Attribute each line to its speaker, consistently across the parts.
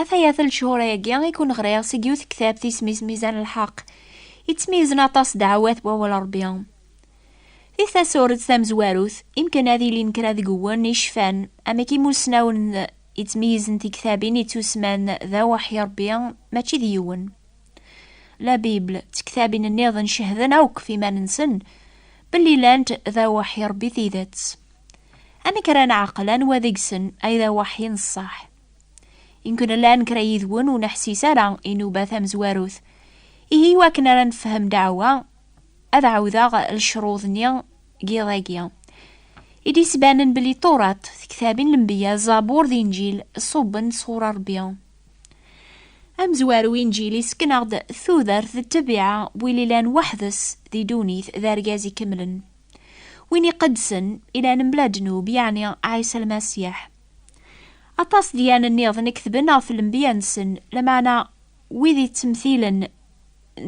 Speaker 1: Afayat n lechur-agi i kun ɣriɣ seg yiwet ktabt isem-is Mizan lḥeq, yettmeyzen aṭas ddeɛwat n wawal Rebbi. Di tasuret tamezwarut, imken ad ilin kra deg wwen i cfan amek imussnawen yettmeyzen tiktabin yettusman d Aweḥyi Rebbi mačči d yiwen. La Bible d tektabin nniḍen cehden akk ɣef iman-nsen belli llant d Aweḥyi Rebbi tidet. Amek ara neɛqel anwa deg-sen ay d aweḥyi n ṣṣeḥ? Inkun llan kra yid-wen ur neḥsis ara i nuba tamezwarut. Ihi iwakken ara nefhem ddeɛwa, ad ɛawdeɣ lecruḍ-nni n yiḍ-agi. I d-yettbanen belli Turat, tektabin n Lenbiya, Zabur d Inǧil ṣubben-d sɣur Rebbi. Amezwaru Inǧil isken-aɣ-d tudert d ttabiɛa n win ilan weḥd-s di ddunit d argaz ikemlen. Win iqedsen, ilan mebla ddnub, yeɛni Ɛisa Lmasiḥ. Aṭas dyan nniḍen i ketben ɣef lembiya-nsen, lameɛna wid yettemtilen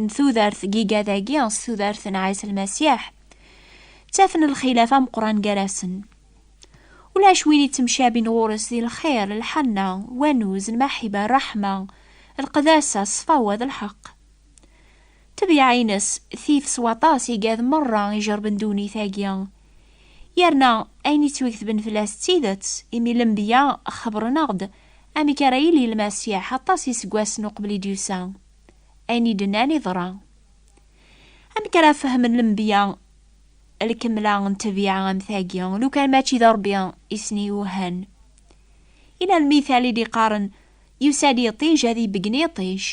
Speaker 1: n tudert n yigad-agi s tudert n Ɛisa Lmasiḥ, ttafen lxilaf ameqqran gar-asen. Ulac win yettemcabin ɣur-s di lxir, lḥanna, wanuz, lmaḥiba, ṛṛeḥma, lqedasa, ṣṣfawa d lḥeqq. Tebyaɛ-ines tif s waṭas igad merra ijerben ddunit-agi. Yerna ayen yettwegtben fell-as d tidet, imi lenbiya xebren-aɣ-d amek ara yili Lmasiḥ aṭas iseggasen uqbel i d-yusa. Ayen i d-nnan iḍra. Amek ara fehmen lenbiya lkemla n tebyaɛ am tagi, lukan mačči d Ṛebbi i sen-iwehhan? Yella lmithal i d-iqqaren, Yusa-d yiṭij ad ibeggen yiṭij.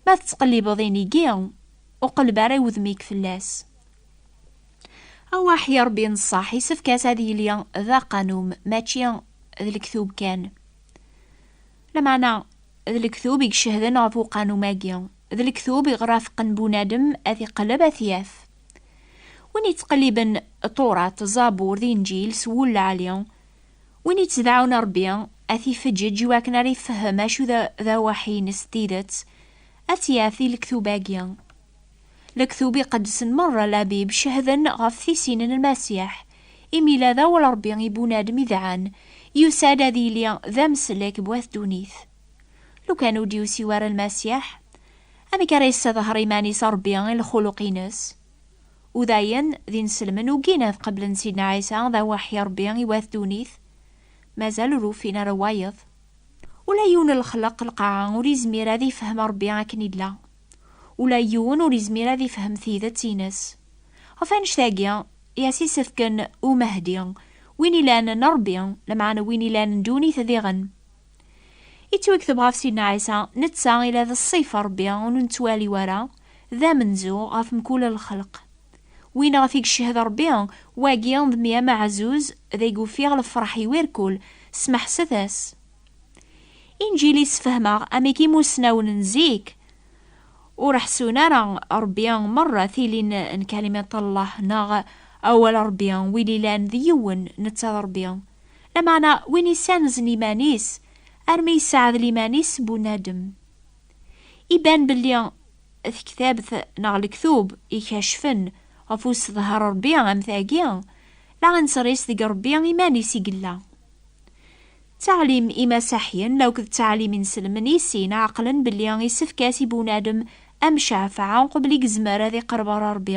Speaker 1: Ma tettqellibeḍ inigi, ur qelleb ara i wudem-ik fell-as. Awaḥ i Ṛebbi n ṣṣeḥ, isefk-as ad yili d aqanum, mačči d lektub kan. Lameɛna, d lektub i icehden ɣef uqanum-agi. D lektub i ɣraf qen bunadem ad t-iqelleb ad t-yaf. Win yettqelliben Ṭuṛat, Ẓabur d Inǧil s wul lɛali, Win yettdaɛun Ṛebbi, ad t-ifeǧǧeǧ i wakken ara ifehhem acu d awaḥi-ines n tidet, ad tt-yaf di lektub-agi. Lektub iqedsen meṛṛa, Labib, cehden ɣef tisin n Lmasiḥ, imi la d awal Ṛebbi i bunadem idɛan, yusa-d ad yili d ameslek n wat ddunit. Lukan ur d-yusi wara Lmasiḥ, amek ara yessedher iman-is Ṛebbi i lxuluq-ines? Udayen d inselmen ugin ad qeblen Sidna Ɛisa d aweḥḥi Ṛebbi i wat ddunit, mazal ur ufin ara wayeḍ. Ula yiwen n lexleq lqaɛa ur izmir ad ifhem Ṛebbi akken illa. Ula yiwen ur izmir ad ifhem tidet ines. Ɣef annect-agi i as-isefken Umehdi, win ilan n Ṛebbi, lameɛna win ilan n ddunit diɣen. Ittwaktab ɣef Sidna Ɛisa, netta ila d ṣṣif Ṛebbi ur nettwali wara, d amenzu ɣef mkul lxelq. Win ɣef i yecched Ṛebbi, wagi d mi amaɛzuz d ay ufiɣ lefreḥ i wirkul, smeḥset-as. Inǧil yessefhem-aɣ amek imusnawen n zik ur ḥesun ara Ṛebbi merra tilin n Kalimat Llah neɣ Awal Ṛebbi, win ilan d yiwen, netta d Ṛebbi. Lameɛna win issanzen iman-is armi yesseɛdel iman-is s bunadem. Iban belli tektabt neɣ lektub ikeccfen ɣef usedher n Rebbi am tagi, la nettris deg Rebbi iman-is i yella. Ttaɛlim imasaḥyen la akked ttaɛlim inselmen i sin ɛeqlen belli isefk-as i bunadem amcafeɛ uqbel i yezmer ad iqerreb ɣer Rebbi.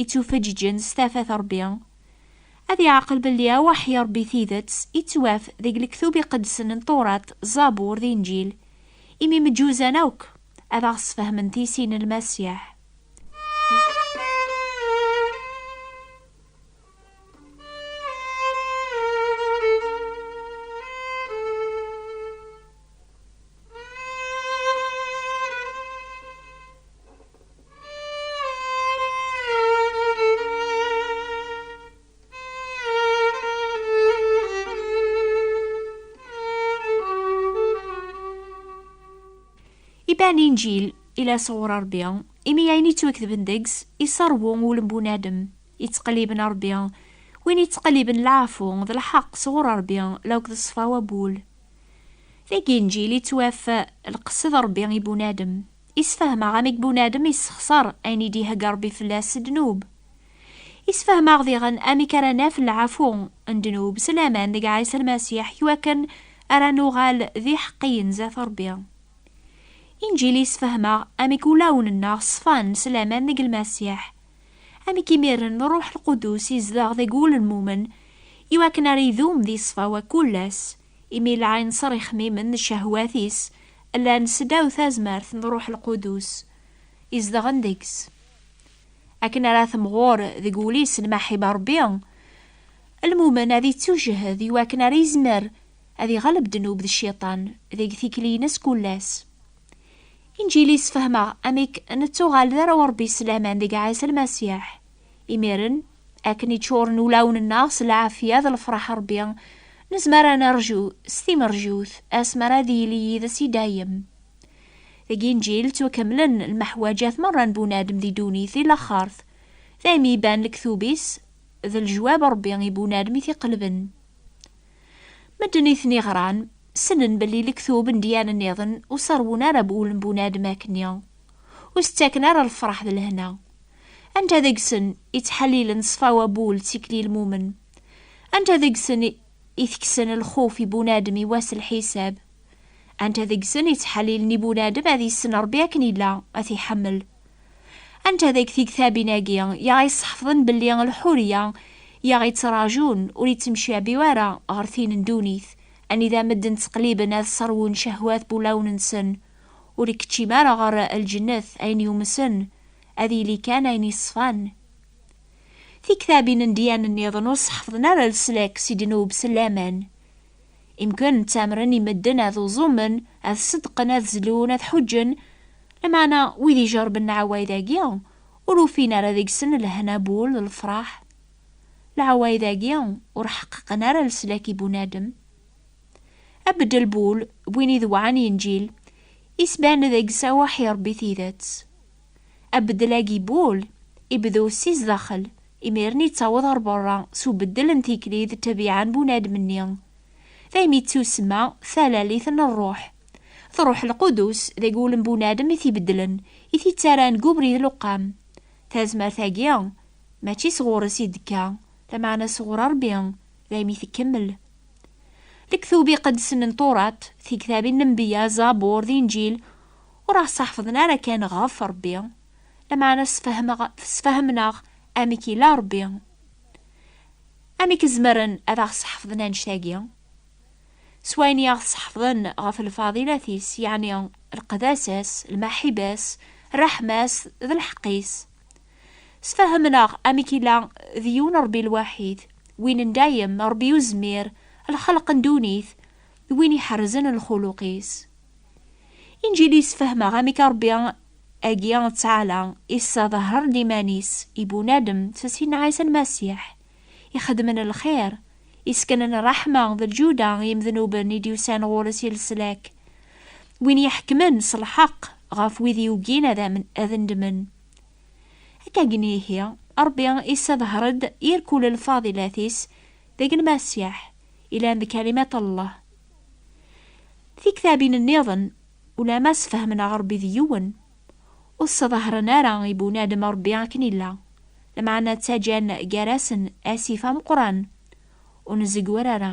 Speaker 1: ittufaǧǧiǧen s tafat Ṛebbi, ad iɛqel belli awaḥ i Ṛebbi tidet ittwaf deg lektub iqedsen n Tewraṭ, Zabur d Inǧil, imi mǧuzan akk ad aɣ-sfehmen tisin n Lmasiḥ. Iban inǧil ila sɣur Ṛebbi, imi ayen yettwaketben deg-s iṣerwu ulem bunadem, yettqelliben Ṛebbi, win yettqelliben leɛfu d lḥeqq sɣur Ṛebbi, lawk d ṣṣfa wabul. Deg inǧil yettwaf lqesd Ṛebbi i bunadem, Isfehmeɣ amek bunadem yessexṣer ayen i d-ihegga Ṛebbi fell-as s ddnub. Isfehmeɣ diɣen amek ara naf lɛafu n ddnub s laman deg Ɛisa Lmasiḥ iwakken ara nuɣal d iḥeqqiyen zdat Ṛebbi. Inǧil isfehmeɣ amek ulawen-nneɣ ṣfan s laman deg Lmasiḥ, amek imiren Ṛṛuḥ Lqudus izdeɣ deg wul n lmumen iwakken ara idum di ṣṣfa-w akk-ll ass, imi lɛinṣer ixmimen n cehwat-is llan seddaw tazmert n Ṛuḥ Lqudus izedɣen deg-s. Akken ara temɣur deg wul-is lmaḥiba n Ṛebbi, lmumen ad ittujhed i wakken ara izmer ad iɣleb ddnub d cciṭan deg tikli-ines kullas. Inǧil yessefhem-aɣ amek nettuɣal d arraw n Ṛebbi s laman deg Ɛisa Lmasiḥ. Imiren, akken iččuren ulawen-nneɣ s lɛafya d lefraḥ Ṛebbi, nezmer ad nerju s timerjut asmi ara ad yili yid-s i dayem. Deg Inǧil ttwakemmlen lmeḥwaǧat meṛṛa n bunadem di ddunit di laxert, d aymi iban lektub-is d lejwab Ṛebbi i bunadem i t-iqelben. Medden i ten-iɣran ssnen belli lektub n dyanen-nniḍen ur ṣerrwen ara ul n bunadem akkenni, ur s-ttaken ara lefraḥ d lehna. Anta deg-sen i ttḥallilen ṣṣfa wabul d tikli lmumen? Anta deg-sen i tekksen lxuf i bunadem i wass lḥisab? Anta deg-sen i ttḥallilen i bunadem ad yessen Rebbi akken illa, ad t-iḥemmel? Anta deg tigtabin-agi i aɣ-yesseḥfḍen belli lḥuriya i aɣ-yettrajun ur yettemcabi ara ɣer tin n ddunit, anida medden ttqelliben ad sserwun cehwat n wulawen-nsen, ur ikeččim ara ɣer lǧennet ayen yumsen Ad yili kan ayen yeṣfan. Tiktabin n dyan nniḍen ur sḥefḍen ara leslak si ddnub s laman. Imken ttamren i medden ad uẓumen, ad ṣeddqen, ad zlun, ad ḥuǧǧen, lameɛna wid ijerben leɛwayed-agi ur ufin ara deg-sen lehna bu ul d lefraḥ. Leɛwayed-agi ur ḥeqqeqen ara leslak i bunadem. Abeddel Bull, d win idewɛen Inǧil, isban deg Sawah i Rebbi Tidet. Abeddel-agi Bull, ibdu si zdaxel, imiren yettaweḍ ɣer berra s ubeddel n tikli d ṭṭbiɛa n bunadem-nni. Daymi yettusma Talalit n Rruḥ. D Rruḥ Lqudus, deg wul n bunadem i t-ibeddlen, i t-ittaran deg ubrid leqqam. Tazmert-agi, mačči s ɣur-s i d-tekka, lameɛna s ɣur Rebbi, daymi tekkemmel. Deg tubi iqedsen n Turat, Tiktabin n Nnbiya, Zabur d Inǧil, ur aɣ-ssaḥefḍen ara kan ɣef Rebbi, lameɛna ssfehmeɣ-ssfehhmen-aɣ amek yella Rebbi. Amek zemren ad aɣ-sseḥefḍen annect-agi? S wayen i aɣ-sseḥefḍen ɣef lfadilat-is, yeɛni lqedasa-s, lmaḥiba-s, rreḥma-s d lḥeqq-is. Sfahemen-aɣ amek i la d yiwen Ṛebbi lwaḥid, win n dayem, Ṛebbi Uzmir, lxelq n ddunit, d win iḥerrzen lxuluq-is. Inǧil yessefhem-aɣ amek Ṛebbi agi, Ttɛala, isseḍher-d iman-is i bunadem s sin n Ɛisa Lmasiḥ, ixedmen lxir, iseknen ṛṛeḥma d lǧuda i yimednuben i d-yusan ɣur-s i leslak, win iḥekmen s lḥeqq ɣef wid yugin ad nedmen. Akkagni ihi, Ṛebbi isseḍher-d yir kul lfaḍilat-is deg Lmasiḥ, ilan d Kalimat Allah. Tiktabin-nniḍen, ulamma sfehmen aɣ Ṛebbi d yiwen, Ur sseḍahṛen ara i bunadem Ṛebbi akken illa, lameɛna ttaǧǧan gar-asen asif ameqqran, ur nzegwer ara.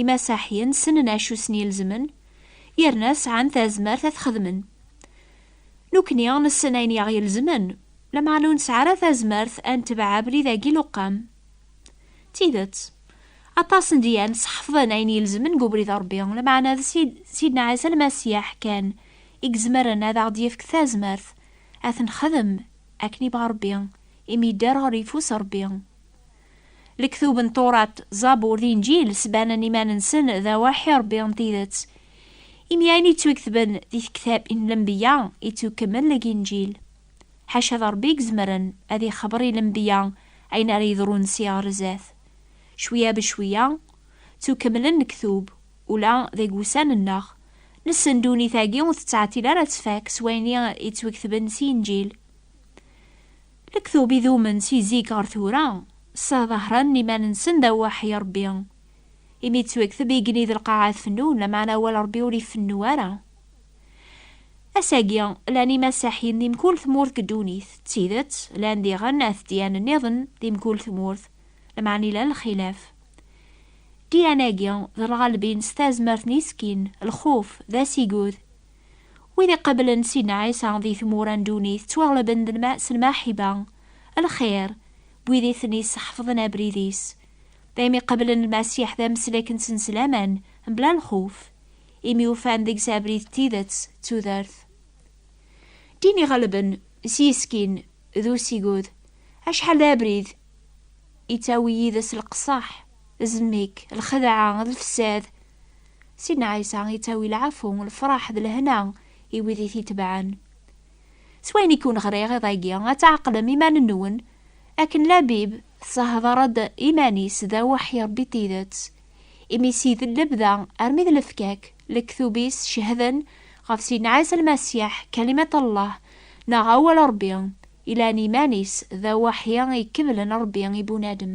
Speaker 1: Imasaḥyen ssnen acu sen-ilezmen, yerna sɛan tazmert ad t-xedmen. Nekkni nessen ayen i aɣ-ilezmen, lameɛna ur nesɛi ara tazmert ad netbeɛ abrid-agi n uqqam. D tidet, aṭas n dyans ḥefḍen ayen ilezmen deg ubrid n Ṛebbi, lameɛna d Sidna Ɛisa Lmasiḥ kan i izemren ad aɣ-d-yefk tazmert ad t-nexdem akken yebɣa Ṛebbi, imi yedder ɣer yeffus n Ṛebbi. Lektub n Turat, Zabur d Inǧil sbanen iman-nsen d awaḥ i Ṛebbi n tidet. Imi ayen yettwaketben di Tektab n Lenbiya yettukemmel deg Inǧil. Ḥaca d Ṛebbi i izemren ad ixebber i lenbiya ayen ara yeḍrun si ɣer zdat. Cwiya becwiya, ttukemmlen lektub, ula deg wussan-nneɣ. Nessen ddunit-agi ur tettɛetil ara ad tfak s wayen i yettwaketben si Inǧil. Lektub idumen si zik ɣer tura, ssaḍahren iman-nsen d aweḥ i Ṛebbi. Imi d twekteb igenni d lqaɛa tfennun, lameɛna awal Ṛebbi ur ifennu ara. Ass-agi, llan imasaḥiyen di mkul tmurt deg ddunit. D tidet, llan diɣen at ddyan nniḍen di mkul tmurt, lameɛna ilan lxilaf. Ddyan-agi, d lɣalbin s tazmert n iskin, lxuf, d asigud. Wid iqablen Sidna Ɛisa di tmura n ddunit ttwaɣlaben d lma s lmaḥiba, lxir, n wid i ten-isseḥfḍen abrid-is. Daymi qablen Lmasiḥ d ameslek-nsen s laman, mebla lxuf, imi ufan deg-s abrid n tidet d tudert. Ddin iɣelben s yiskin d usigud, acḥal d abrid ittawi yid-s lqesseḥ, zmek, lxedɛa d lfsad. Sidna Ɛisa ittawi lɛafu, lefraḥ d lehna i wid i t-itebɛen. S wayen i kkun-ɣriɣ iḍ-agi, ad tɛeqlem iman-nwen, akken Labib tessehder-d iman-is d Awḥ i Ṛebbi n tidet, imi sid n lebda armi d lefkak, lektub-is cehden ɣef Sidna Ɛisa Lmasiḥ, Kalimat Allah, neɣ Awal Ṛebbi, ilan iman-is d Awḥ i ikeblen Ṛebbi i bunadem.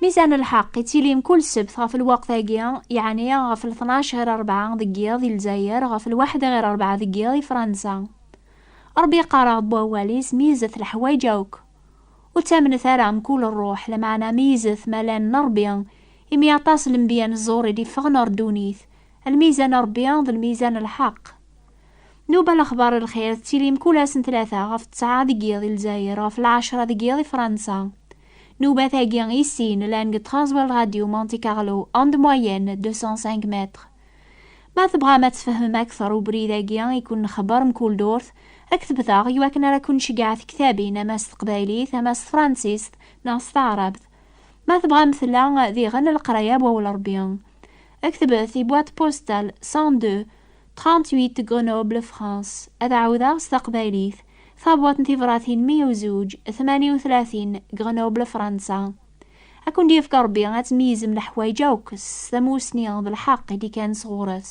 Speaker 1: Mi sɛan lḥeqq, ittilin kul ssebt ɣef lweqt-agi, yeɛni ɣef lṭnac ɣir rebɛa deg yiḍ di Lezzayer, ɣef lwaḥed ɣir rebɛa deg yiḍ i Fransa. Ṛebbi yeqqar-aɣ-d bu awal-is, Meyyzet leḥwayeǧ akk. Ur ttamnet ara mkul ṛṛuḥ, lameɛna meyyzet ma llan n Ṛebbi, imi aṭas n lenbiya n ẓẓur i d-iffɣen ɣer ddunit. Lmiyza n Ṛebbi d lmiyza n lḥeqq. Nuba lexbar n lxir tettilim kul ass n tlata ɣef ţţɛa deg yiḍ di Lezzayer, ɣef lɛecṛa deg yiḍ i Fransa. Newbat-agi i sin llan deg Transworld Radio Monte Carlo en de moyenne 205 mètres. Ma tebɣam ad tfehmem akteṛ ubrid-agi i ken-nxebbeṛ mkul durt, rektbet-aɣ i wakken ara ken-nceggeɛ tektabin ama s teqbaylit, ama s tefransist neɣ s taɛṛabt. Ma tebɣam tella diɣen leqraya n Wawal Ṛebbi. Rektbet i Boîte postale 102. 38 de Grenoble, France, ad ɛawdeɣ s taqbaylit, Tabwaṭ n tibṛatin 102, 38, Grenoble, Fransa. Ad kent-yefk Ṛebbi ad tmeyyzem leḥwayeǧ akk s tamussni d lḥeqq i d-ikkan sɣur-s.